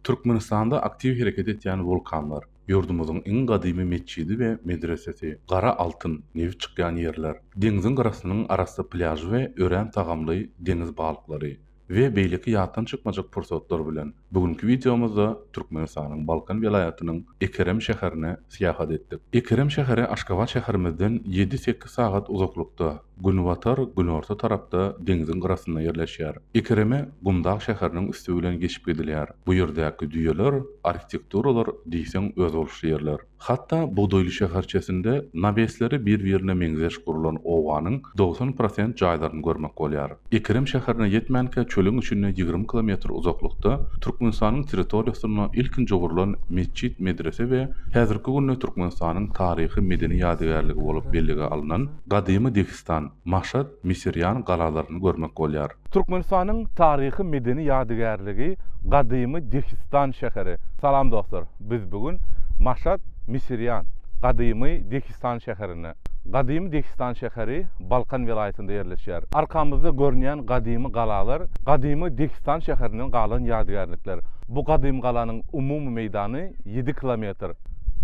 Türkmenistanda aktiw hereket etýän wulkanlar, ýurdumyzyň iň gadymy metjidi we medresesi, gara altyn, nebit çykýan ýerler, deňziň gyrasynyň arassa plýažy we örän tagamly deňiz balyklary we beýleki ýatdan çykmajak pursatlar bilen bu günki wideomyzda Türkmenistanyň Balkan welaýatynyň Ekerem şäherine syýahat etdik. Ekerem şäheri Aşgabat şäherimizden ýedi-sekiz sagat uzaklykda. Günbatar, günorta tarapda deňziň gyrasynda ýerleşýär. Ekereme gumdag şäheriniň üsti bilen geçip gidilýär. Bu ýerdäki düýeler, arhitekturalar diýseň özboluşly ýerler. Hatda bugdaýly şäherçesinde nawesleri bir-birine meňzeş gurlan obanyň dogsan prosent jaýlaryny görmek bolýar. Ekerem şäherine ýetmänkä çölüň içinde ýigrimi kilometr uzaklykda Türkmenistanyň territoriýasynda ilkinji gurlan metjit medrese we häzirki günde Türkmenistanyň taryhy-medeni ýadygärligi bolup bellige alnan gadymy Dehistan, Maşat, Misirýan galalaryny görmek bolýar. Türkmenistanyň taryhy-medeni ýadygärligi gadymy Dehistan şäheri. Salam dostlar! Biz bu gün Maşat, Misirýan, gadymy Dehistan şäherinde. Gadymy Dehistan şäheri Balkan welaýatynda ýerleşýär. Arkamyzda görünýän gadymy galalar gadymy Dehistan şäherinden galan ýadygärlikler. Bu gadymy galanyň umumy meýdany ýedi kilometr.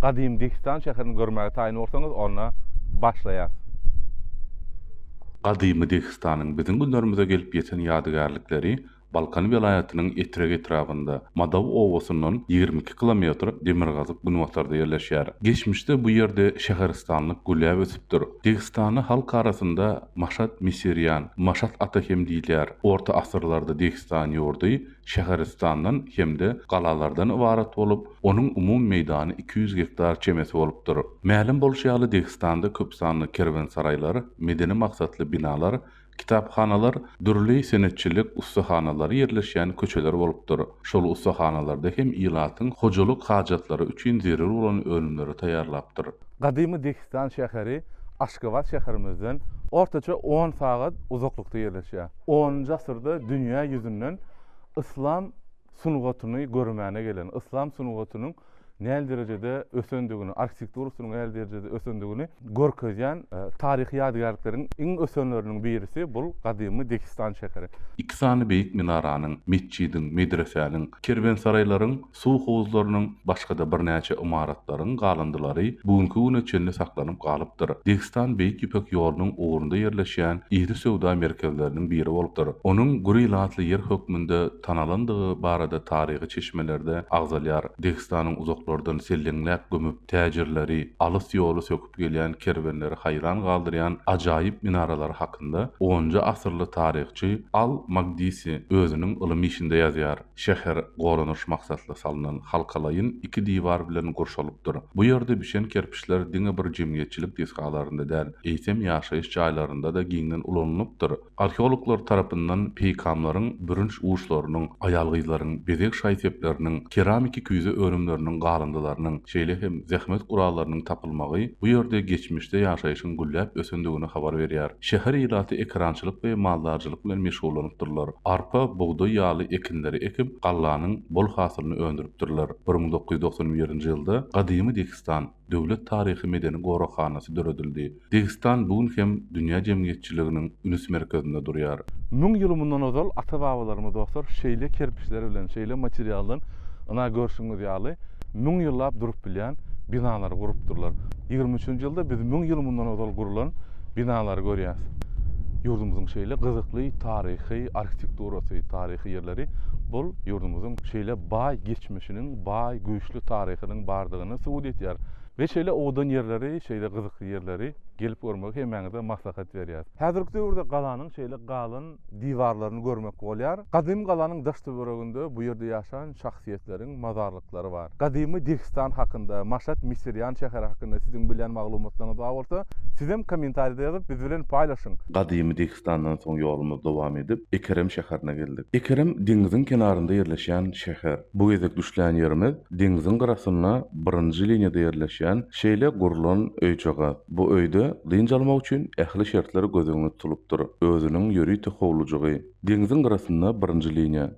Gadymy Dehistan şäherini görmäge taýyn bolsaňyz, onda başlaýas. Gadymy Dehistanyň biziň günlerimize gelip ýeten ýadygärlikleri Balkan welaýatynyň Etrek etrabynda, Madaw obasyndan ýigrimi iki kilometr demirgazyk-günbatarda ýerleşýär. Geçmişde bu ýerde şäheristanlyk güläp ösüpdir. Degistany halk arasynda Maşat Misirýan, Maşat ata hem diýilýär. Orta asyrlarda Degistan ýurdy şäheristandan hem-de galalardan ybarat bolup, onuň umumy meýdany iki ýüz gektar çemesi bolupdyr. Mälim bolşy ýaly, Degistanda köpsanly kerwensaraýlar, medeni maksatly binalar Kitaphanalar dürli senetçilik ussahanalary ýerleşýän köçeler bolupdyr. Şol ussahanalarda hem ilatyň hojalyk hajatlary üçin zerur bolan önümleri taýýarlapdyr. Gadymy Dehistan şäheri Aşgabat şäherimizden ortaça on sagat uzaklykda ýerleşýär. Onunjy asyrda dünýä ýüzünden yslam sungatyny görmäne gelen, yslam sungatynyň nähili derejede ösendigini, arhitektura usulynyň nähili derejede ösendigini görkezýän taryhy ýadygärlikleriň iň ösenleriniň birisi bul gadymy Dehistan şäheri. Iki sany beýik minaranyň, metjidiň, medresäniň, kerwensaraýlaryň, suw howuzlarynyň, başga-da birnäçe ymaratlaryň galyndylary bu günki güne çenli saklanyp galypdyr. Dehistan Beýik Ýüpek ýolunyň ugrunda ýerleşýän iri söwda merkezleriniň biri bolupdyr. Onuň Guri-Latli ýer hökmünde tanalandygy barada taryhy çeşmelerde agzalýar, Dehistanyň uzaklardan selleňläp gömüp, täjirleri, alys ýoly söküp gelýän kerwenleri haýran galdyrýan ajaýyp minaralary hakynda onunjy asyrly taryhçy Al-Magdisi özüniň ylym işinde ýazýar, Şäher goranyş maksatly salnan halkalaýyn iki diwar bilen gurşalypdyr. Bu ýerde bişen kerpiçler diňe bir jemgyýetçilik desgalarynda däl, eýsem ýaşaýyş jaýlarynda-da giňden ulanylypdyr. Arheologlar tarapyndan peýkamlaryň bürünç uşlarynyň, aýal-gyzlaryň bezeg şaý-sepleriniň, keramiki küýze önümleriniň galyndylarynyň, şeýle hem zähmet gurallarynyň tapylmagy bu ýerde geçmişde ýaşaýşyň gülläp ösendigini habar berýär. Şäher ilaty ekerançylyk we maldarçylyk bilen meşgullanypdyrlar. Arpa, bugdaý ýaly ekinleri ekip, gallanyň bol hasylyny öndüripdirler. Bir müň dokuz ýüz doksan birinji ýylda Gadymy Dehistan, Döwlet taryhy-medeni goraghanasy döredildi. Degistan bu gün hem dünýä jemgyýetçiliginiň ünüs merkezinde durýar. Müň ýyl mundan ozal ata-babalarymyz dostlar şeýle kerpiçler bilen, şeýle materialdan ynha görşüňiz ýaly müň ýyllap durup bilýän binalary gurupdyrlar. Ýigrimi üçünji ýylda biz müň ýyl mundan ozal gurlan binalary görýäs. Ýurdumyzyň şeýle gyzykly taryhy arhitekturasy, taryhy ýerleri bul ýurdumyzyň şeýle baý geçmişiniň baý, güýçli taryhynyň bardygyny subut edýär. Biz şeýle owadan ýerleri, şeýle gyzykly ýerleri gelip görmegi hemmäňize maslahat berýäris. Häzirki döwürde galanyň şeýle galan diwarlaryny görmek bolýar. Gadymy galanyň daş-töwereginde bu ýerde ýaşan şahsyýetleriň mazarlyklary bar. Gadymy Dehistan hakynda, Maşat Misirýan şäheri hakynda siziň bilýän maglumatlaryňyz bar bolsa, sizem kommentariýada ýazyp biz bilen paýlaşyň. Gadymy Türküstandan soň ýolumyzy dowam edip, Ekerem şäherine geldik. Ekerem deňiziň kenarynda ýerleşýän şäher. Bu gezek düşlän ýerimiz deňziň gyrasynda birinji liniýada ýerleşýän şeýle gurlan öýjagaz. Bu öýde dynç almak üçin ähli şertler göz öňünde tutulupdyr. Özüniň ýörite howlujygy. Deňziň gyrasynda birinji liniýa.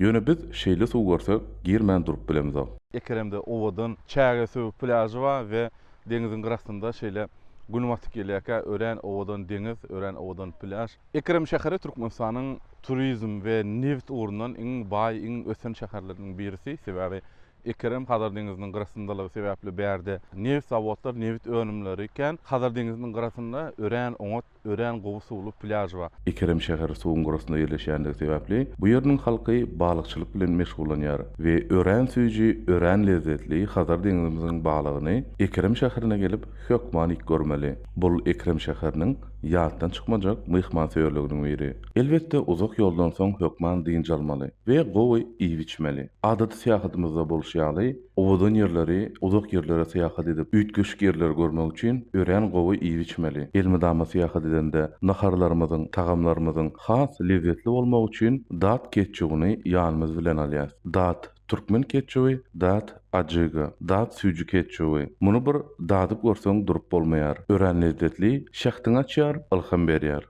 Ýöne biz şeýle suw görsek, girmän durup bilemizok. Ekeremde owadan Çägesöbük plýažy bar we deňiziň gyrasynda şeýle Gün batyp gelýärkä örän owadan deňiz, örän owadan plýaž. Ekerem şäheri Türkmenistanyň turizm we nebit ugrundan iň baý, iň ösen şäherleriniň birisi. Sebäbi Ekerem Hazar deňiziniň gyrasyndalygy sebäpli bärde nebit zawodlar, nebit önümleri kän. Hazar deňiziniň gyrasynda örän oňat örän gowy suwly plýaž bar. Ekerem şäheri suwuň gyrasynda ýerleşýändigi sebäpli, bu ýeriniň halky balykçylyk bilen meşgullanýar we örän süýji, örän lezzetli Hazar deňzimiziň balygyny Ekerem şäherine gelip hökman iýip görmeli. Bul Ekerem şäheriniň ýatdan çykmajak myhmansöýerliginiň biri. Elbetde uzak ýoldan soň hökman dynç almaly we gowy iýip-içmeli. Adaty syýahatymyzda bolşy ýaly, Owadan ýerleri, uzak ýerlere syýahat edip, üýtgeşik ýerleri görmek üçin örän gowy iýip-içmeli. Elmydama syýahat edende, naharlarymyzyň, tagamlarymyzyň has lezzetli bolmagy üçin dat ketçubyny ýanymyz bilen alýas. Dat türkmen ketçuby, dat ajiga, dat süýji ketçuby. Muny bir dadyp görseň durup bolmaýar. Örän lezzetli, şähdiňi açýar, ylham berýär.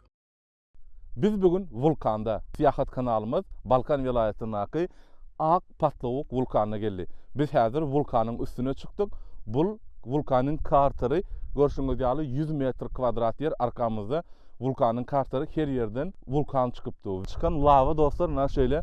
Biz bu gün wulkanda. Syýahat kanalymyz Balkan welaýatyndaky Ak Patlawuk wulkanyna geldi. Biz häzir wulkanyň üstüne çykdyk. Bu wulkanyň kartery görşüňiz ýaly ýüz metr kwadrat ýer arkamyzda wulkanyň kartery her ýerden wulkan çykypdy. Çykan lawa dostlar ynha şeýle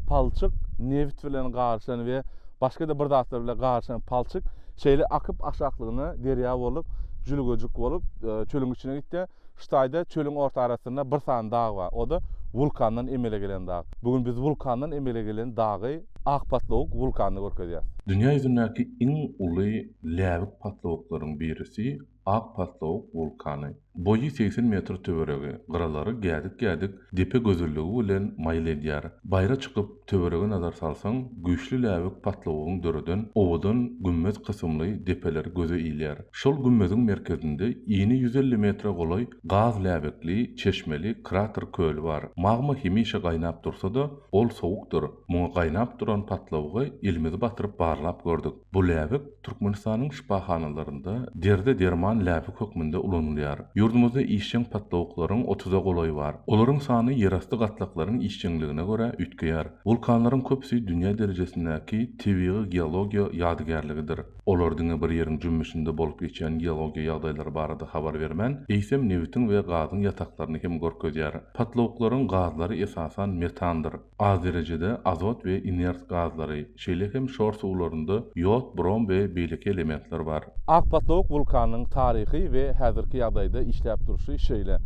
palçyk nebit bilen garyşan we başga-da bir zatlar bilen garyşan palçyk şeýle akyp aşaklygyna derýa bolup jülgejik bolup çölüň içine gitdi. Hytaýda çölüň orta arasynda bir sany dag bar. O-da wulkandan emele gelen dag. Bu gün biz wulkandan emele gelen dagy, Ak patlawuk wulkanyny görkezýäris. Dünýä ýüzündäki iň uly läbik patlawuklaryň birisi, Ak patlawuk wulkany. Boýy segsen metr töweregi, gyralary gädik-gädik depe gözelligi bilen maýyl edýär. Baýra çykyp, töwerege nazar salsaň, güýçli läbik patlawygyň döreden owadan gümmez kysymly depeler göze ilýär. Şol gümmeziň merkezinde ini ýüz elli metre golaý gaz läbikli, çeşmeli krater köli bar. Magma hemişe gaýnap dursa-da, ol sowukdyr. Muňa gaýnap duran patlawyga elimizi batyryp barlap gördük. Bu läbik Türkmenistanyň şypahanalarynda derdi-derman läbik hökmünde ulanylýar. Ýurdumyzda işjeň patlawuklaryň otuza golaýy bar. Olaryň sany ýerasty gatlaklaryň işjeňligine görä üýtgeýär. Wulkanlaryň köpüsi dünýä derejesindäki tebigy geologiýa ýadygärligidir. Olar diňe bir ýeriň jümmüşinde bolup geçýän geologiýa ýagdaýlary barada habar bermän, eýsem nebitiň we gazyň ýataklaryny hem görkezýär. Patlawuklaryň gazlary esasan metandyr. az derejede azot we inert gazlary, şeýle hem şor suwlarynda ýod, brom we beýleki elementler bar. Akpatlawuk wulkanynyň taryhy we häzirki ýagdaýda işläp durşy şeýle,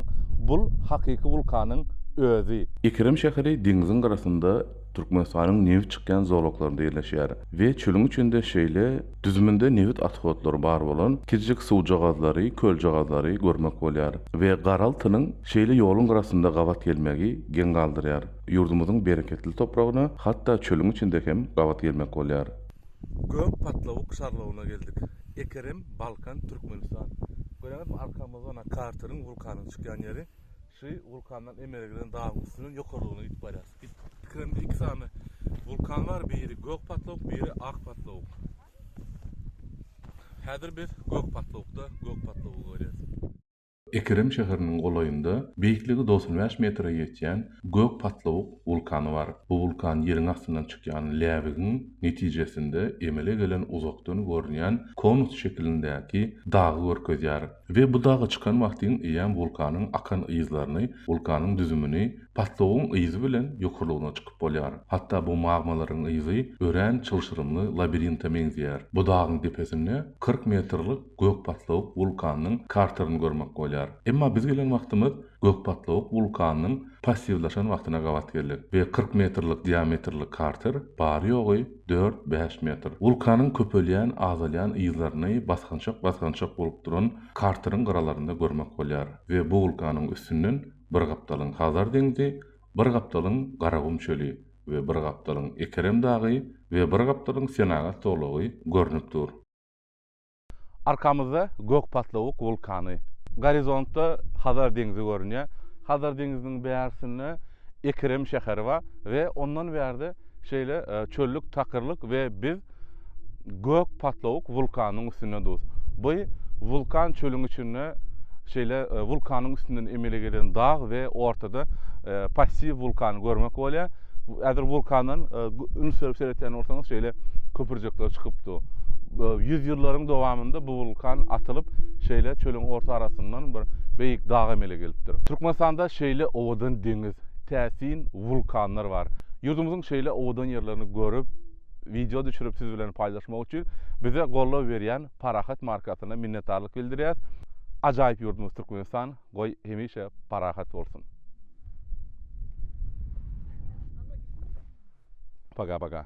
bul hakyky wulkanyň özi. Ekerem şäheri deňziň gyrasynda Türkmenistanyň nebit çykýan zolaklarynda ýerleşýär we çölüň içinde şeýle, Düzüminde nebit atkotlary bar bolan kiçijik suwjagazlary, köljagazlary, görmek bolýar we garaltynyň şeýle ýoluň gyrasynda gabat gelmegi geň galdyrýar. Ýurdumyzyň bereketli topragyna hatda çölüň içinde hem gabat gelmek bolýar. Gök patlawuk şarlawyna geldik. Ekerem, Balkan, Türkmenistan. Göreňizmi, arkamyzda karteriň, wulkanyň çykýan ýeri. Suwy wulkandan emele gelen dagyň üstünden ýokarlygyna gidip barýar. Tikremde iki sany wulkan bar, biri gök patlawuk, biri ak patlawuk. Häzir biz gök patlawukda, gök patlawugy görýäris. Ekrem şäheriniň golaýynda beýikligi dogsan bäş metre ýetýän gök patlawuk wulkany bar. Bu wulkan ýeriň astyndan çykýan läbigiň netijesinde emele gelen uzakdan görünýän konus şekilindäki dagy görkezýär. We bu daga çykan wagtyň eýýäm wulkanyň akan yzlaryny, wulkanyň düzümini, patlogyň yzy bilen ýokarlygyna çykyp bolýar. Hatda bu magmalaryň yzy örän çylşyrymly labirinte meňzeýär. Bu dagyň depesinde kyrk metrlik gök patlawuk wulkanyň karterini görmek bolýar. Emma biz gelen wagtymyz Gökpatlawuk wulkanynyň passiwlaşan wagtyna gabat geldik we kyrk metrlik diametrli karter bary-ýogy dört-bäş metr. Wulkanyň köpelýän-azalýan yzlaryny basgançak-basgançak bolup duran karteriň gyralarynda görmek bolýar we bu wulkanyň üstünden bir gapdalyň Hazar deňzi, bir gapdalyň Garagum çöli we bir gapdalyň Ekerem dagy we bir gapdalyň Senagat zolagy görnüp dur. Arkamyzda Gökpatlawuk wulkany. Gorizontda Hazar deňzi görünýär. Hazar deňziniň bärsinde Ekrem şäheri bar we ondan bärde şeýle çöllük, takyrlyk we biz Gökpatlawuk wulkanynyň üstünde durus. Bu wulkan çölüň içinde şeýle wulkanyň üstünden emele gelen dag we ortada passiw wulkany görmek bolýar. Häzir wulkandan üns berip seretýän bolsaňyz şeýle köpürjekler çykypdy. Ýüz ýyllaryň dowamynda bu wulkan atylyp, şeýle çölüň orta arasyndan bir beýik dag emele gelipdir. Türkmenistanda şeýle owadan deňiz, täsin wulkanlar bar. Ýurdumyzyň şeýle owadan ýerlerini görüp, wideo düşürip siz bilen paýlaşmak üçin bize goldaw berýän Parahat markasyna minnetdarlyk bildirýäs. Ajaýyp ýurdumyz Türkmenistan! Goý hemişe parahat bolsun. Poka poka.